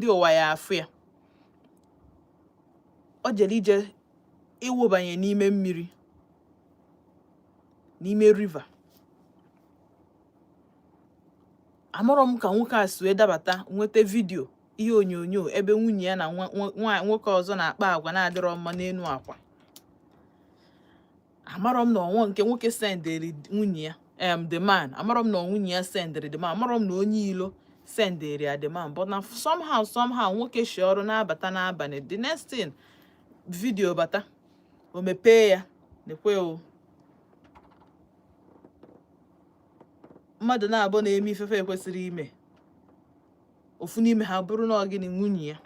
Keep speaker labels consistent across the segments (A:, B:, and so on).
A: ndị ụwa ya afụ ya o jere ije ịwụbanye n'ime mmiri n'ime river amarọ m ka nwoke a si wee dabata nweta video ihe onyonyo ebe nwunye ya na nwoke ọzọ na-akpa agwa na-adịrọ mma n'elu akwa amarọ m na ọ bụ nke nwoke sendịrị nwunye ya em the man amarọ m na nwunye ya sendịrị the man amarọ m na onye ilo sendịrị ya the man but na somehow somehow nwoke shi ọrụ na-abata n'abalị the next thing video bata o mepee ya nekwe o mmadụ naabọ na-eme ife fa ekwesịrị ime ofu n'ime ha bụrụ na ọ gịnị nwunye ya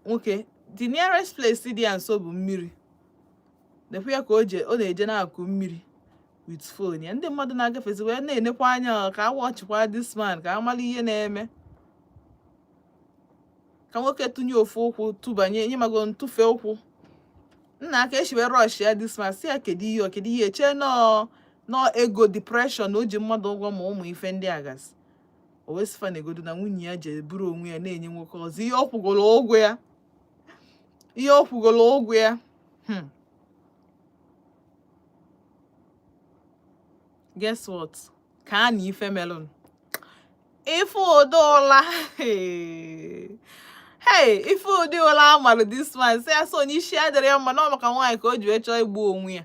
A: nwoke the nearest place dị ya nso bụ mmiri nekwa ya ka ọ na-eje n'akụkụ mmiri with phone ya ndị mmadụ na-agafezi wee na-enekwa anya ka a watchịkwa this man ka a mara ihe na-eme ka nwoke tụnye ofu ụkwụ tụbanye ị magonụ tụfe ụkwụ nnaa ka e shi wee rush ya this man sị ya kedu ihe kedu ihe chee na ọ ego depression o ji mmadụ ụgwọ ma ụmụ ife ndị a gasị o wee sị fa negodu na nwunye ya je buru onwe ya na-enye nwoke ọzọ ihe ọ kwụgoro ụgwọ ya ihe ọ kwụgoro ụgwọ ya hmm. guess what kaanụ ife melụnụ ị fụ ụdị ụla hey ị fụ ụdị ụla a malụ this man sị ya so onye isi adịrọ ya mma na ọ maka nwaanyị ka o ji wee chọọ igbu onwe ya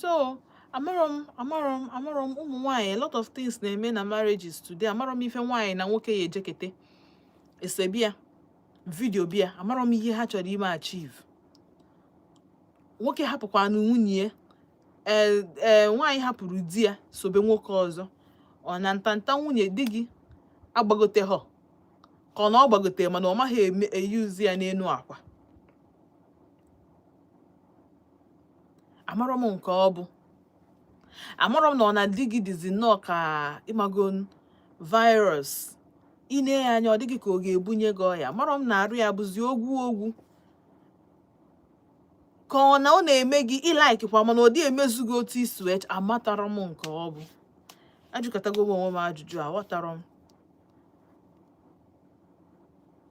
A: so amarọ m amarọ m amarọ m ụmụ nwaanyị a lot of things na-eme na marriages today amarọ m ife nwaanyị na nwoke ya ejekete esebe ya video bịa amarọ m ihe ha chọrọ ime achieve nwoke hapụkwanụ nwunye ee eh, eh, nwaanyị hapụrụ di ya sobe nwoke ọzọ ọ na ntanta nwunye di gị agbagoterọ ka ọ na ọ gbagotere mana ọ maghị eyuzi ya n'elu akwa amarọ m nke ọ bụ amarọ m na ọ na di gị dịzi nnọọ ka ị magonụ virus i nee ya anya ọ dị gị ka ọ ga-ebunye gị ọya amarọ m na arụ ya bụzi ogwu ogwu ka ọ na ọ na-eme gị ị laikikwa mana ọ dị emezu gị otu i si chọọ amatarọ m nke ọ bụ ajụkatago m onwe m ajụjụ aghọtarọ m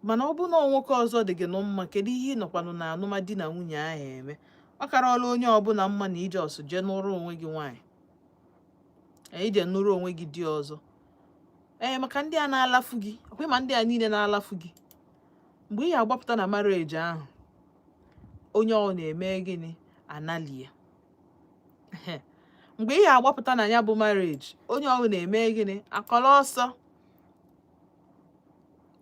A: mana ọ bụrụ na nwoke ọzọ dị gị nụ mma kedu ihe ị nọkwanụ na anụm di na nwunye ahụ eme ọ karala onye ọbụla mma na i jee ọsọ jee nụrụ onwe gị nwaanyị i jee nụrụ onwe gị di ọzọ ee maka ndị a na-alafu gị ọkwa ị ma ndị a niile na-alafu gị mgbe ị ga-agbapụta na marriage ahụ onye ọ na-eme gịnị analia mgbe ị ga-agbapụta na ya bụ marriage onye ọwụna eme gịnị akọrọ ọsọ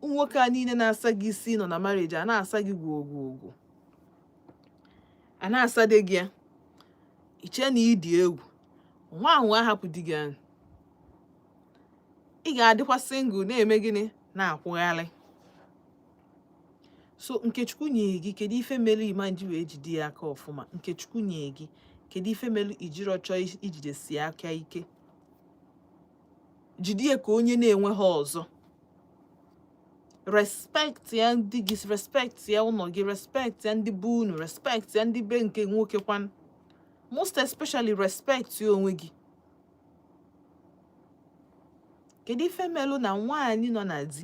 A: nwoke a niile na-asa gị isi nọ na marriage a na-asa gị gwogwogwo a na-asade gị ya i chee na ị dị egwu nwa ahụ ahapụ di gị ahụ ị ga-adịkwa single na-eme gịnị na-akwụgharị so nke Chukwu nye gị kedu ife melu ị ma-eji wee jide ya aka ọfụma nke Chukwu nye gị kedu ife melu i jirọ chọọ ijidesi aka ike jide ya ka onye na-enwehọ ọzọ respect ya di gị respect ya ụlọ gị respect ya ndị be unu respect ya ndị be nke nwoke kwanụ most especially respect ya onwe gị kedu ife melu na nwaanyị nọ na di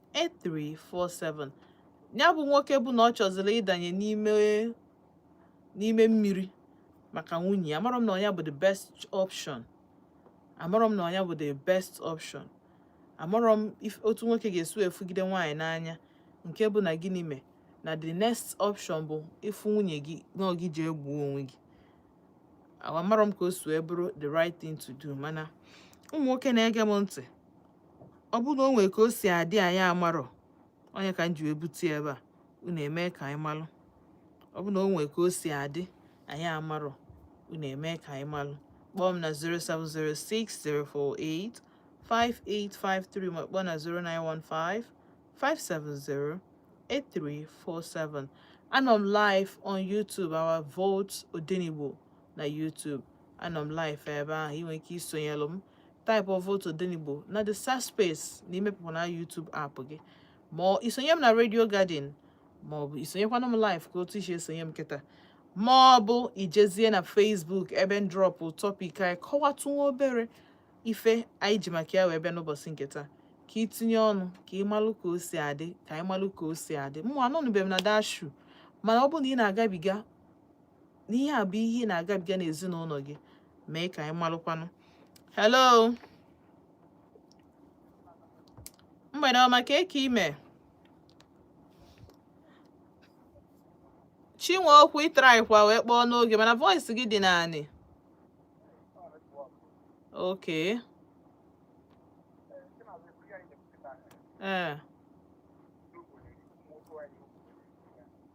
A: 8347 ya bụ nwoke bụ na ọ chọziri ịdanye n'ime mmiri maka nwunye ya amarọ m na ọ nya bụ the best option amarọ m na ọ nya bụ the best option amarọ m otu nwoke ga-esi afụgide nwaanyị n'anya nke bụ na gịnị mee na the next option bụ ịfụ nwunye gị na ọ gị ji egbu onwe gị amarọ m ka o si wee bụrụ the right thing to do mana ụmụ nwoke na-ege m ntị ọ bụrụ na o nwere ka o si adị anyị amarọ ọ nya ka m ji wee bute ebe a unu emee ka anyị malụ ọ bụrụ na o nwere ka o si adị anyị amarọ unu emee ka anyị malụ kpọọ m na 0706048 5853 ma kpọọ na 0915 570 8347 anọ m live on YouTube our vote Odenigbo na YouTube anọ m live ebe ahụ ị nwere ike isonyelụ m type our vote Odenigbo na the search space na imepụta na YouTube app gị ma i sonye m na Radio Garden ma ọ bụ i sonyekwana m live ka otu i si esonye m kịta ma ọ bụ i jezie na Facebook ebe m drọpụ topic anyị kọwatụ nwa obere ife anyị ji maka ya wee bịa n'ụbọchị nke taa ka i tinye ọnụ ka ị malụ ka o si adị ka anyị malụ ka o si adị mụ anọnụbeghị m na that shoe mana ọ bụrụ na ị na-agabiga na ihe a bụ ihe ị na-agabiga n'ezinụlọ gị mee ka anyị malụkwanụ hello mgbede ọma kee ka ị mee Chinweokwu ị traịkwa wee kpọọ n'oge mana voice gị dị n'anị okay ee eh.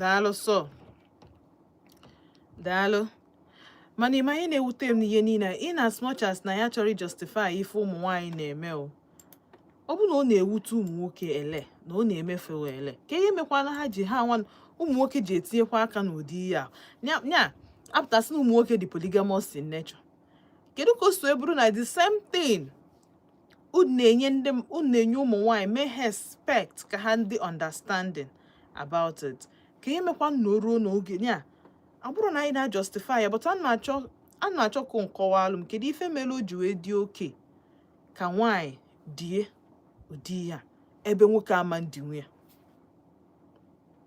A: daalụ sọ daalụ mana ị ma ihe na-ewute m n'ihe niile in as much as na anyị achọrọ justify ife ụmụ nwaanyị na-eme o ọ bụ na ọ na-ewute ụmụ nwoke ele na ọ na-emefe ele ka ihe mekwana ha ji ha nwa ụmụ nwoke ji etinyekwa aka n'ụdị ihe a nya apụta sị na ụmụ nwoke dị polygamous in nature kedu ka o si bụrụ na the same thing unu na-enye ndị unu na-enye ụmụ nwanyị mee ha expect ka ha dị understanding about it ka ihe mekwa na o ruo n'oge ya ọ bụrọ na anyị na-ajustify ya but a na-achọ a na-achọ ka unu kọwaalụ m kedu ife mere o ji wee dị okay ka nwaanyị die ụdị ya ebe nwoke ama edinwu ya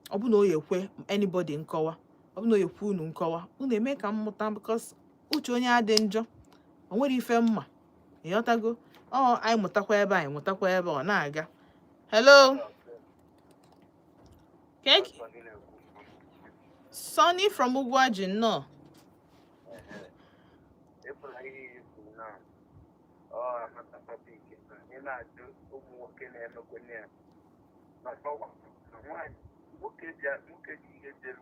A: ọ bụ na ọ ya-ekwe anybody nkọwa ọ bụ na ọ ya-ekwe unu nkọwa unu eme ka m mụta because uche onye adị njọ o nwere ife m ma ị ghọtago ọ anyị mụtakwa ebe anyị mụtakwa ebe ọ na-aga hello keki Sonny from Ugwuaji nnọọ na-ajụ ụmụ nwoke na-emekwenye ya maka nwoke ji ihe
B: jere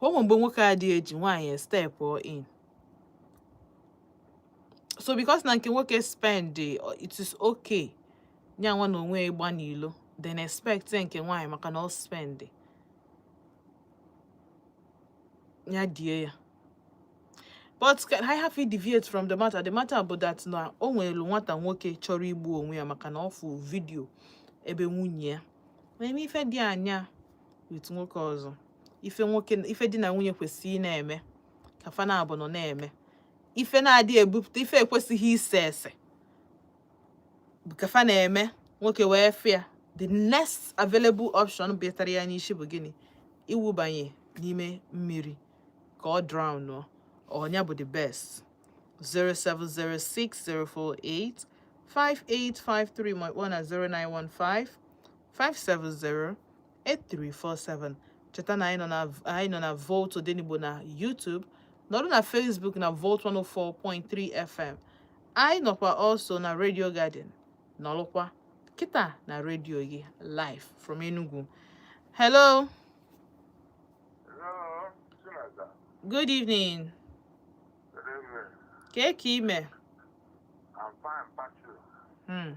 A: o nwee mgbe nwoke adị eji nwaanyị estep in so because na nke nwoke spend it is okay nya nwa na onwe ya ịgba n'ilo then expect nke nwaanyị maka na ọ spend ya die ya but ka anyị hafụ ideviate from the matter the matter bụ that na o nwere nwata nwoke chọrọ igbu onwe ya maka na ọ fụ vidio ebe nwunye ya na-eme ife dị anya with nwoke ọzọ ife nwoke ife di na nwunye kwesịrị na-eme ka fa naabọ nọ na-eme ife na-adị ebupụta ife ekwesịghị ise ese ka fa na-eme nwoke wee fụ ya the next available option bịatara ya n'isi bụ gịnị iwubanye n'ime mmiri ka ọ drown ọ nya bụ the best 0706048 5853 ma ị kpọọ na 0915 570 8347 cheta na anyị nọ na Volt Odenigbo na YouTube nọrụ na Facebook na Volt 104.3 FM anyị nọkwa also na Radio Garden nọrụkwa kịta na redio gị live from Enugu
B: hello
A: good evening kee ka i
B: me hmm.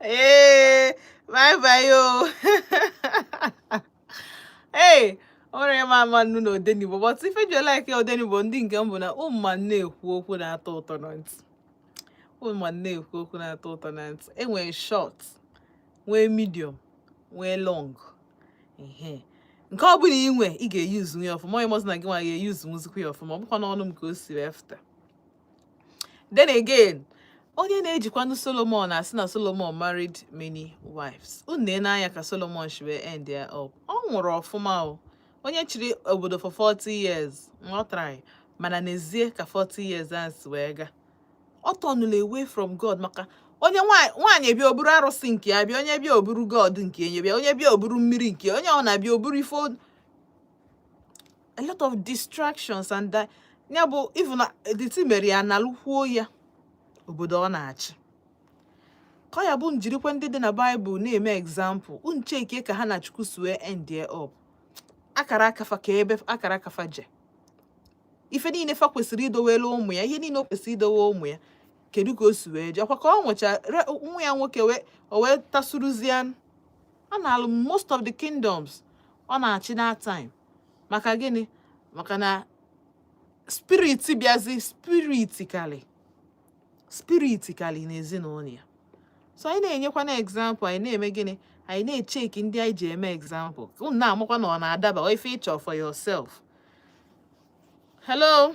A: ee eh, bye bye o oh. ee o nwere ịma ama unu na odenigbo but ife ji like odenigbo ndị nke m bụ na ụmụma na-ekwu okwu na-atọ ụtọ na ntị ụmụma na-ekwu okwu na-atọ ụtọ na ntị e nwere short nwee medium nwee long ihe nke ọ bụla i nwe ị ga-eyuzu ya ọfụma onye mọzụ na gị nwa ga-eyuzu yuzikwa ya ọfụma ọ bụkwa n'ọnụ m ka o si wee fụta then again onye na-ejikwanụ solomon asị na solomon married many wives unu nee anya ka solomon shi wee end ya up ọ nwụrụ ọfụma o onye chịrị obodo for 40 years ọ try mana n'ezie ka 40 years a si wee ga ọ tọnụla away from god maka onye nwaanyị bịa o buru arụsị nke ya bịa onye bịa o buru god nke ya bịa onye bịa o buru mmiri nke onye ọ na-abịa o buru ife a lot of distractions and uh, ya bụ even uh, the thing mere ya a nalụkwuo ya obodo ọ na-achị ka ya bụ unu jirikwa ndị dị na baịbụl na-eme example unu chekie ka ha na chukwu si wee endie up akara aka fa ka ebe akara aka fa je ife niile fa kwesịrị idowere ụmụ ya ihe niile o kwesịrị idowe ụmụ ya kedu ka o si wee je ọ kwa ka ọ nwụcha nwa ya nwoke o wee tasuruzie a nalụ most of the kingdoms ọ na-achị that time maka gịnị maka na spirit bịazi spirit kalị n'ezinụlọ ya so anyị na-enyekwanụ example anyị na-eme gịnị anyị na-echeki ndị anyị ji eme example unu na-amakwa na ọ na-adaba ife ị chọ for yourself hello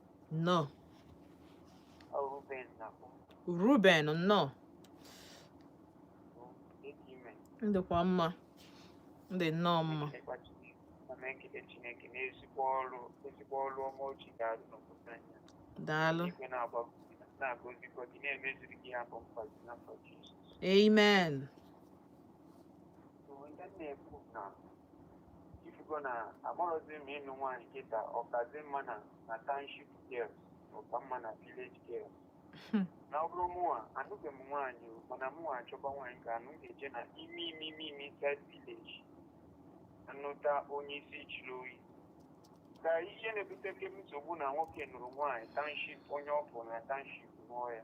A: nnọọ ruben nnọọ ị dịkwa mma m dị nnọọ mma daalụ amen Ihe
C: m na-ekwu na ị fụgo na amarọzi m ịnụ nwaanyị kịta ọ kazi mma na na township girls ọ ka mma na village girls na ọ bụrụ mụnwa anụbeghị m nwaanyị o, mana mụnwa achọba nwaanyị ga-anụ m ga-eje na ime ime ime ime inside village nụta onye isi jiri oyi ka ihe na-ebuteke nsogbu na nwoke nụrụ nwaanyị township onye ọ fụ na township nụọ ya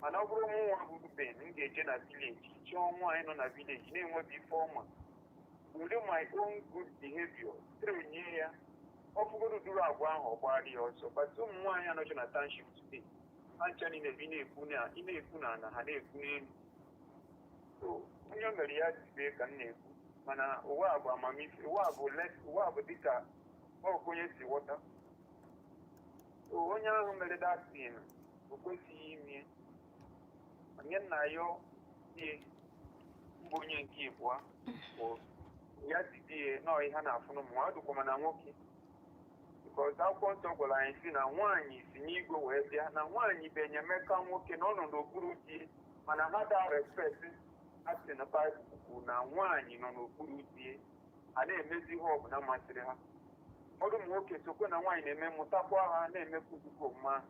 C: mana ọ bụrụ mụnwa bụ Ben m ga-eje na village chọọ nwaanyị nọ na village na-enweghị ife ọ ma were my own good behavior train ya ọ fụgodu ụdịrị agwa ahụ ọ gbara ya ọsọ but ụmụ nwaanyị a nọcha na township today ha ncha niile bi na-ekwu na ị na-ekwu na ala ha na-ekwu n'elu so onye o mere ya dibe ka m na-ekwu mana ụwa a bụ amamife ụwa a bụ light ụwa a bụ dịka ọkụ onye si ghọta so onye ahụ mere that thing o kwesịghị ime onye nna ya die mba onye nke ịbụa bụ ya didie nọọ ihe a na-afụ n'ụmụ nwa dụkwa ma na nwoke because akwụkwọ nsọ gwara anyị sị na nwaanyị si n'igwe wee bịa na nwaanyị bụ enyemaka nwoke na ọ nọ n'okpuru di mana ha da respect a sị na Baịbụl kwuru na nwaanyị nọ n'okpuru di a na-emezi ihe ọbụla masịrị ha ụfọdụ ụmụ nwoke sokwe na nwaanyị na-eme mụtakwa ha na-emekwu nzukọ mma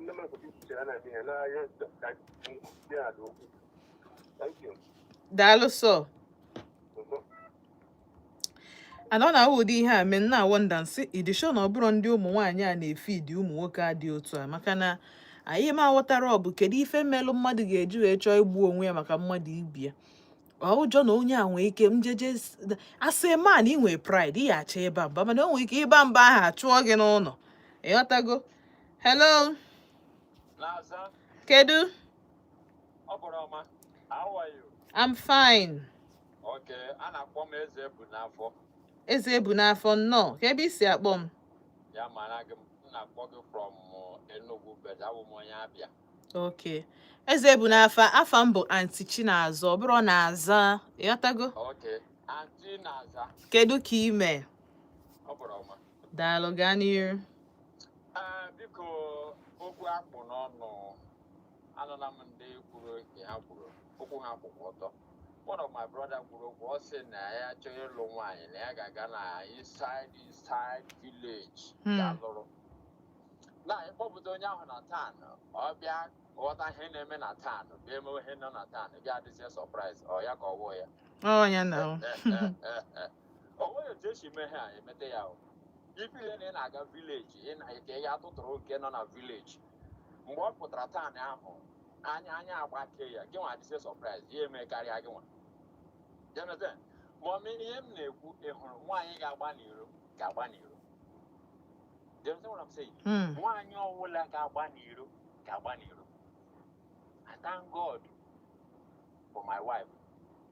C: Ndị mmadụ dị iche iche a na-eme ihe n'ahịa ka ndị a dị okwu. Thank you. daalụ
A: so Mhm. ana ọ na-awụ ụdị ihe a mee m na-wonder m sị ị dị sure na ọ bụrọ ndị ụmụ nwaanyị a na-efeed ụmụ nwoke a dị otu a maka na anyị ma aghọtara ọ bụ kedu ife melụ mmadụ ga-eji wee chọọ igbu onwe ya maka mmadụ ibe ya ọ ụjọ na onye a nwee ike njeje asị man ị nwee pride ị ya achọ ịba mba mana o nwee ike ịba mba ahụ a chụọ gị n'ụlọ ị ghọtago
D: hello kedu I'm fine
A: okay
D: a na-akpọ m eze ebu n'afọ eze ebu
A: n'afọ nnọọ kee ebe i si akpọ m ya mara
D: gị m na-akpọ gị from uh, Enugu but abụ m onye Abịa
A: okay eze ebu n'afọ afa m bụ Aunty Chinaza ọ bụrọ Naza ị ghọtago okay
D: Aunty Naza kedu ka i me
A: daalụ gaa n'iru
D: ah, biko okwu a kpụ n'ọnụ anụla m ndị kwuru nke ha kwuru okwu ha kwụkwa ọtọ one of my brother kwuru okwu ọ sị na ya chọrọ ịlụ nwaanyị na ya ga-aga na inside inside village hmm. ga lụrụ na ị kpọpụta onye ahụ na town ọ bịa ghọta ihe na-eme na town bịa emewe ihe nọ na town bịa adịzie surprise ọ ya ka ọ wụ ya o nweghị otu e si mee ha emete ya o ị feel na ị na-aga village ị na ike ya tụtụrụ nke nọ na village mgbe ọ pụtara town ahụ anya anya agbake ya gị nwa adịzie surprise ya eme karịa gị nwa you understand ma ọ mee ihe m na-ekwu ị hụrụ nwaanyị ga-agba n'iro ga-agba n'iro you understand what I'm saying Mm. nwaanyị ọwụla ga-agba n'iro ga-agba n'iro I thank God for my wife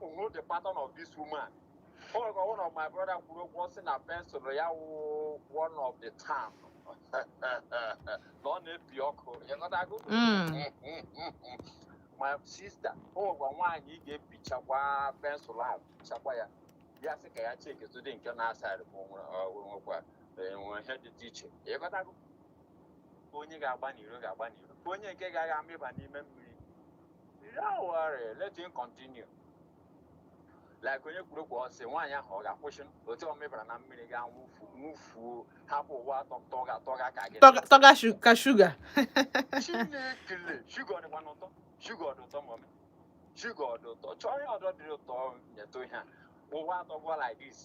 D: hụ the pattern of this woman o nwere ka one of my brother kwuru okwu ọ sị na pensụl ya wụ one of the town na ọ na-epi ọkụ ịghọtago my sister o nwekwa nwaanyị ị ga-epichakwa pensụl ahụ pichakwa ya ya sị ka ya cheki tụdị nke na-asaịrị ma o nwekwa enwe ihe dị dị iche ịghọtago onye ga-agba n'iro ga-agba n'iro onye nke ga-aga amịba n'ime mmiri Don't worry, let him continue. like onye kwuru okwu ọ sị nwaanyị ahụ ọ ga-akwụsị otu ọ mịbara na mmiri ga nwụfu nwụfuo hapụ ụwa tọga tọga ka gị tọga ka shuga
A: Chineke
D: le shuga ọ dịkwanụ ụtọ shuga ọ dị ụtọ mọmị shuga ọ dị ụtọ chọọ ihe ọdọ dị ụtọ nyetụ ihe a ụwa atọgwa like this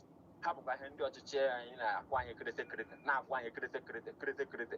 D: hapụkwa ihe ndị ọchịchị anyị na-akwụ anyị kirịtị kirịtị na-akwụ anyị kirịtị kirịtị kirịtị kirịtị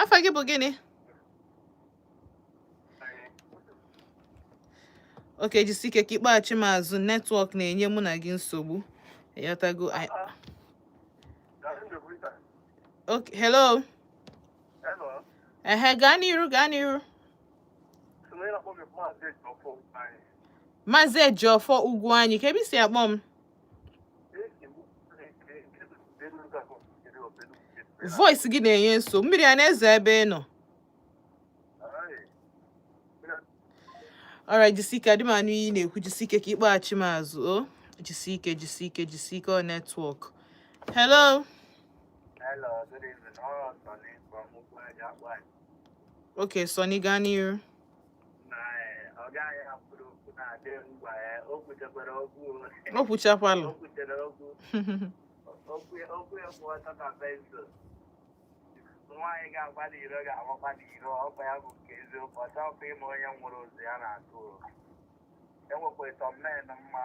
A: afa gị bụ gịnị okay jisi ike ka ị kpọghachi m azụ netwọk na-enye mụ na gị nsogbu ị ghọtago okay hello ehe gaa n'iru gaa n'iru Maazị Ejiofor Ugwuanyi kee ebe i si akpọ m voice gị na-enye nso mmiri a na-ezo ebe ị nọ alright jisike adị m anụ ihe ị na-ekwu jisike ka ị kpọghachi m azụ o oh. jisike jisike jisike ọ netwọk hello hello
C: good evening oh,
A: okay Sonny gaa n'iru o kwuchakwalụ nwaanyị
C: ga-agba n'iro ga-agbakwa n'iro ọkwa ya bụ nke eziokwu ọ chọghịkwa ịma onye nwụrụ ozu ya na-atụ enwekwa ịtọ mmen mma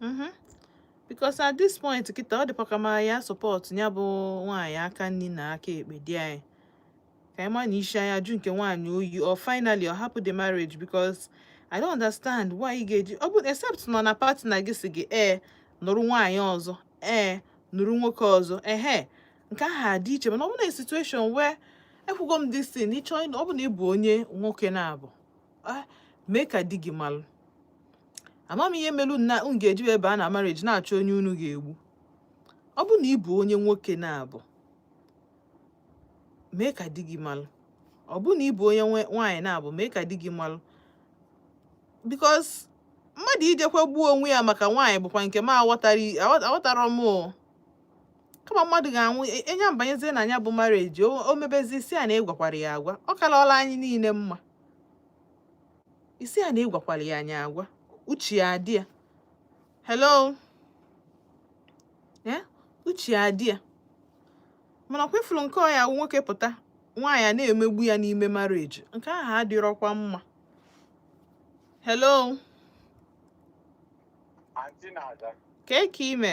A: mhm. because at this point kịta ọ dịkwa ka m ya support ya bụ nwaanyị aka nni na aka ekpe di anyị ka anyị ma na isi anya jụ nke nwaanyị oyi or finally ọ hapụ the marriage because I don't understand why ị ga-eji ọ bụrụ except nọ na partner gị sị gị ee eh, nụrụ nwaanyị ọzọ ee eh, nụrụ nwoke ọzọ ehe nke ahụ adị iche mana ọ bụ na situation where ekwugo m this thing ịchọ ịnụ ọ bụ na ị bụ onye nwoke na-abụ ah, mee ka di gị malụ ama m ihe melu na unu ga-eji abịa na marriage na-achọ onye unu ga-egbu ọ bụ na ị bụ onye nwoke na-abụ mee ka di gị malụ ọ bụ na ị bụ onye nwaanyị na-abụ mee ka di gị malụ because mmadụ ijekwa gbuo onwe ya maka nwaanyị bụkwa nke m aghọtara m kama mmadụ ga-anwụ e, onye banyezie na nya bụ marriage o mebezi ị sị a na ị gwakwara ya agwa ọ kalọla anyị niile mma ị sị a na ị gwakwara anyị agwa uche ya adị ya hello eh? uche ya adị ya mana ọ kwa ị furu nke ọ ya nwoke pụta nwaanyị a na-emegbu ya n'ime marriage nke ahụ adịrọkwa mma hello ka eke ime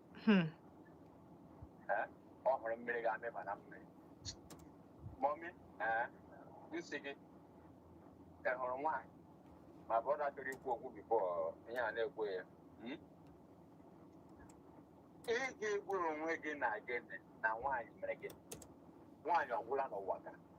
D: hmm. ọ hụrụ mmiri gaa maba na mmiri mummy m sị gị ị hụrụ nwaanyị my brother chọrọ ikwu okwu before ihe a na-ekwu ya hmm? ị ga-egburu onwe gị na gịnị na nwaanyị mere gị nwaanyị ọgwụla n'ụwa ka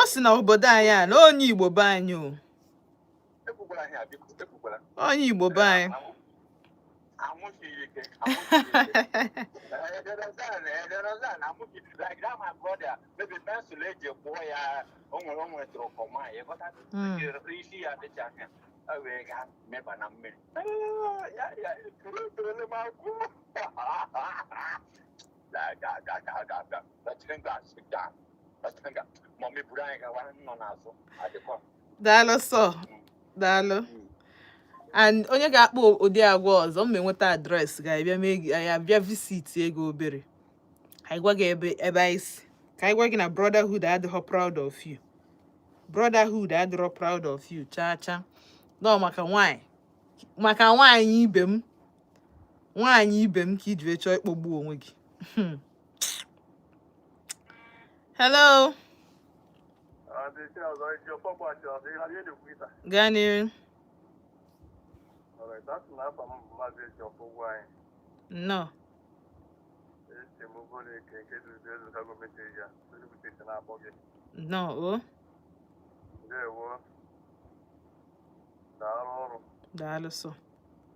A: ọ sị na obodo anyị a na onye igbo be anyị o onye igbo be
D: anyị daalụ sọ
A: daalụ and onye ga-akpa ụdị agwa ọzọ m nweta address ga-abịa visit gị obere anyị gwa gị ebe anyị si ka anyị gwa gị na brotherhood adịghọ proud of you brotherhood adịrọ proud of you chaa chaa no maka nwaanyị maka nwaanyị ibe m nwaanyị ibe m ka i ji chọọ ịkpọgbu onwe gị hmm. hello gaa n'ihu nnọọ nnọọ o daalụ sọ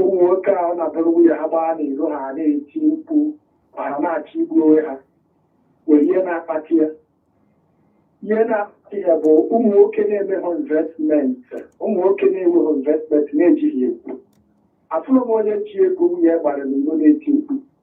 E: ụmụ nwoke a ọ na-abụrụ nwunye ha gbaa n'iro ha na-eti mkpu ma ha na-achọ igbu onwe ha nwere ihe na-akpata ya ihe na-akpata ya bụ ụmụ nwoke na-emeghị investment ụmụ nwoke na-enweghị investment na-ejighị ego afụrọ m onye ji ego nwunye gbara n'iro na-eti mkpu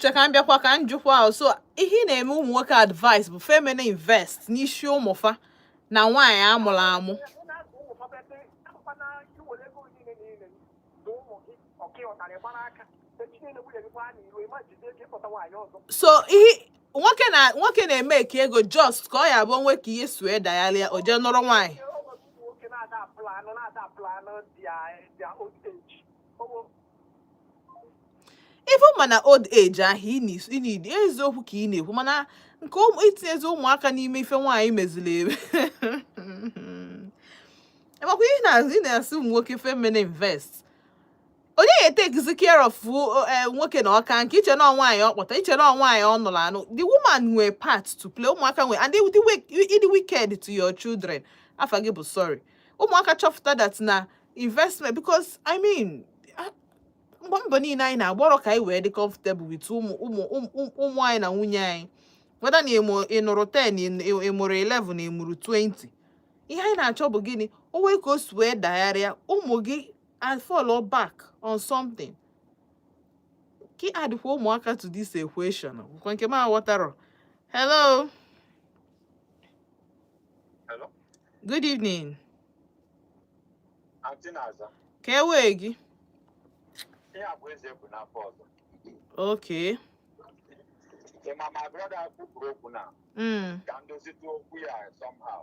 A: che ka m bịakwa ka m jụkwa ahụ so ihe ị na-eme ụmụ nwoke advice bụ fa emena invest n'isi ụmụ fa na nwaanyị amụrụ amụ ọ kpọtara gbara aka so ihe nwoke na nwoke na-eme ka ego just ka ọ ya-abụ o nwee ka ihe si wee dayalịa o jee nụrụ nwaanyị even ma na old age ahụ indeed eziokwu ka ị na-ekwu mana nke itinyezi ụmụaka n'ime ife nwaanyị meziri eme makwa ihe na-asị ụmụ nwoke fa emena vest onye ya-etakezi care of eh, nwoke na ọ kaa nka i che na nwaanyị ọ kpọta i che na nwaanyị ọ nụrụ anụ the woman nwere part to play ụmụaka nwere and ị dị wicked to your children afa gị bụ sorry ụmụaka chọpụta that na investment because i mean mgbe mbọ niile anyị na-agbọrọ ka anyị wee dị comfortable with ụmụ ụmụ ụmụ anyị na nwunye anyị whether na ị nụrụ 10 ị mụrụ 11 ị mụrụ 20 ihe anyị na-achọ bụ gịnị o nwee ka o si wee dagharịa ụmụ gị and follow back on something ka ị addịkwa ụmụaka to this equation kwa nke m aghọtara hello
D: hello good evening ka ewee gị okay ịma my brother kwupụrụ okwu
A: now
D: hmm. ka m dozite okwu ya somehow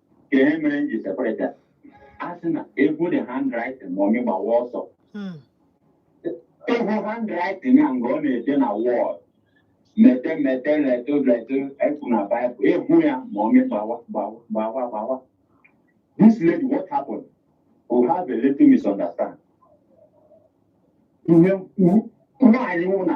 E: ka ihe mere m ji separate a sị na ị gụọ the handwriting ma ọmị gbawa ọsọ hmm. ị hụ handwriting ya nga ọ na-ede na wall mete mete leto leto e kwu na Bible ị hụ ya ma ọmị gbawa gbawa gbawa gbawa this lady what happened we have a little misunderstand ihe nwaanyị nwụ na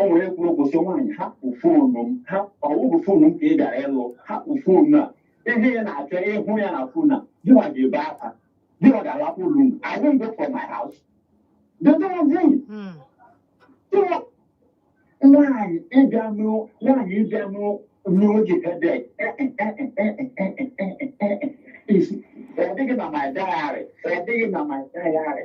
D: o nwere kwuru okwu sị nwaanyị hapụ foonu m ha ọ wụ foonu m ka ị gara ịlụ hapụ foonu a ihe ị na-achọ ịhụ ya na foonu a gịwa ga-ebe akwa gịwa ga-alapụ ụlọ unu I won't go for my house nwaanyị ị bịa nụrụ nwaanyị ị bịa nụrụ n'oge ebe ọ dịghị na my diary ọ dịghị na my diary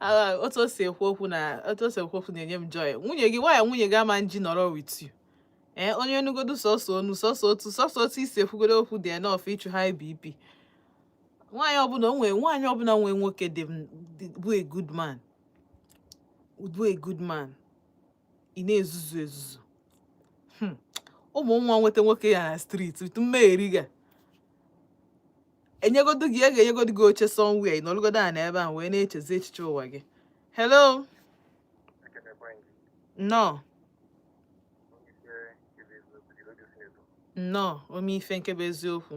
A: Ah, otu o si ekwu okwu na otu o si ekwu okwu na-enye m joy nwunye gị why nwunye gị ama nji nọrọ with you ee eh, onye nụgodu sọsọ onu sọsọ otu sọsọ otu i si ekwugodo okwu dị enough ịchụ high bp nwaanyị ọbụla onwe nwaanyị ọbụla nwee nwoke dị bụ a good man bụ a good man ị na-ezuzu ezuzu hmm. ụmụ nwa nweta nwoke ya na street tutu mmeheri ga enyegodu gị e ga-enyegodu gị oche somewhere ị nọlụgodo ana ebe a wee na-echezi echiche ụwa gị hello nnọọ nnọọ ome ife nke bụ eziokwu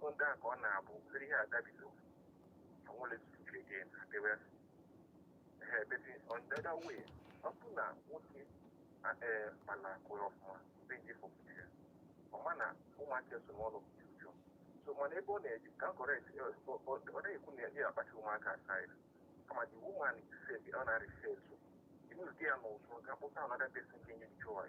B: bụ nke a ka ọ na-abụ obere ihe agabigo onwere zuru ike again adịwe ehe but on the other way ọ bụ na nwoke a- ee mana kụrụ ọfụma be ji fọpụta ya ọ ma na ụmụaka so n'ọnụ dị ụjọ so mana ebe ọ na-eji ka correct ọ na-ekwu na ya akpacha ụmụaka aside kama the woman said ọ na-arịfe etu inuzi ya n'ụzọ ga kpụta another person ga-enye joy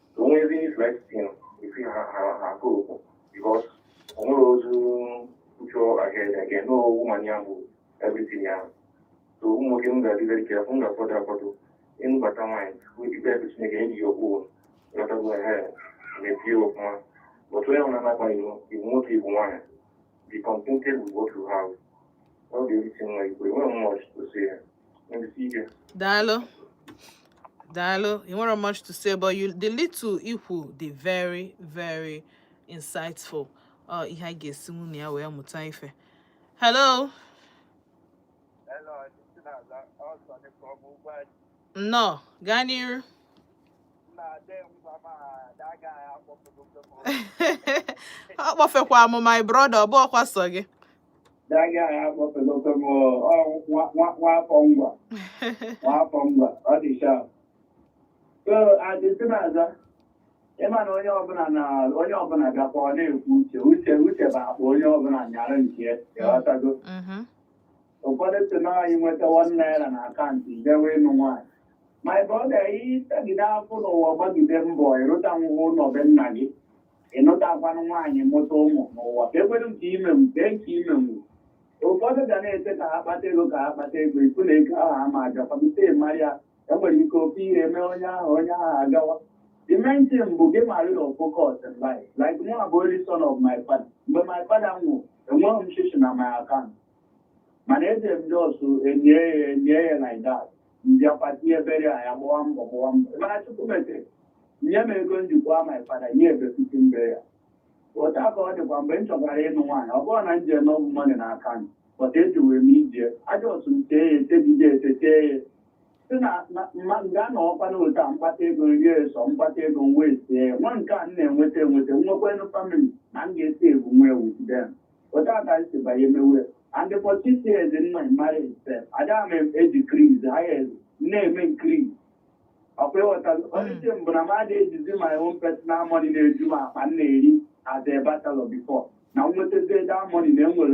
B: onwezi ife ife ha ha ha go okwu because onwere ozu ucho ahead again no woman ya bụ everything ya so ụmụ nwoke m ga-adị very careful m ga-afọdụ afọdụ ịnụbata nwaanyị tupu ikpe ebe chineke enyi ya okwu lọtago ehe mepie ọfụma but onye ọbụla na-agbaghị iwu nwoke iwu nwaanyị be contented with what you have ọ ga-erite nwa igwe enweghị mma ọchịchị ya daalụ
A: daalụ you nwere much to say but you the little i kwu dị very very insightful ọ ihe a ga-esinwu na ya wee mụta ife hello nnọọ gaa n'iru ọ kpọfekwa m my brother ọ bụọkwa sọ gị that
C: guy akpọpelọta m Nwafọ Ngwa Nwafọ Ngwa ọ dị sharp so adịsị na-aza ịma na onye ọbụla na onye ọbụla gakwa ọ na-ekwu uche uche uche bụ akpa onye ọbụla nyara nke ya ghọtago Mhm. ụfọdụ sị na anyị nweta one naira na account i dewe ịnụ nwaanyị my brother ị tagide afụfụ n'ụwa gbagide mbọ ị rụta nwụwa ụlọ be nna gị ị nụtakwanụ nwaanyị mụta ụmụ n'ụwa ka ekwere nke i menwu nke nke i menwu ụfọdụ ga na-eche ka ha kpata ego ka ha kpata ego ị fụ na ego ahụ ama agakwadute mara ya enwere ike ofe ihe eme onye ahụ onye ahụ agawa the main thing bụ gị mara your focus in life like mụ abụ only son of my father mgbe my father nwụ enweghị m shishi na my account mana eji m just enye ya enye ya like that m bịakwa tinye burial ya gbawa mbọ gbawa mbọ mana chukwu metere nye m ego m jikwa my father nye a befitting burial otu a ka ọ dịkwa mgbe m chọkwara ịnụ nwaanyị ọ bụrọ na m ji enough money na account but ejiwe m ije ajọ ọsụ m tee ya etebide etete ya sị na m ga-anọkwa na otu a m kpata ego rie so m kpata ego m wee sie ya nwa nke a m na-enweta enweta nwekwenu family na m ga-esi ebu nwa with them Otu a ka m si banye mewe. And for the six years in my marriage sef, ada m e-decrease, higher, na-eme increase. Ọkwa ị ghọta onye mbụ na m adị ejizi my own personal money na-eju m akpa m na-eri as a bachelor before. Na m nwetazie that money na enwere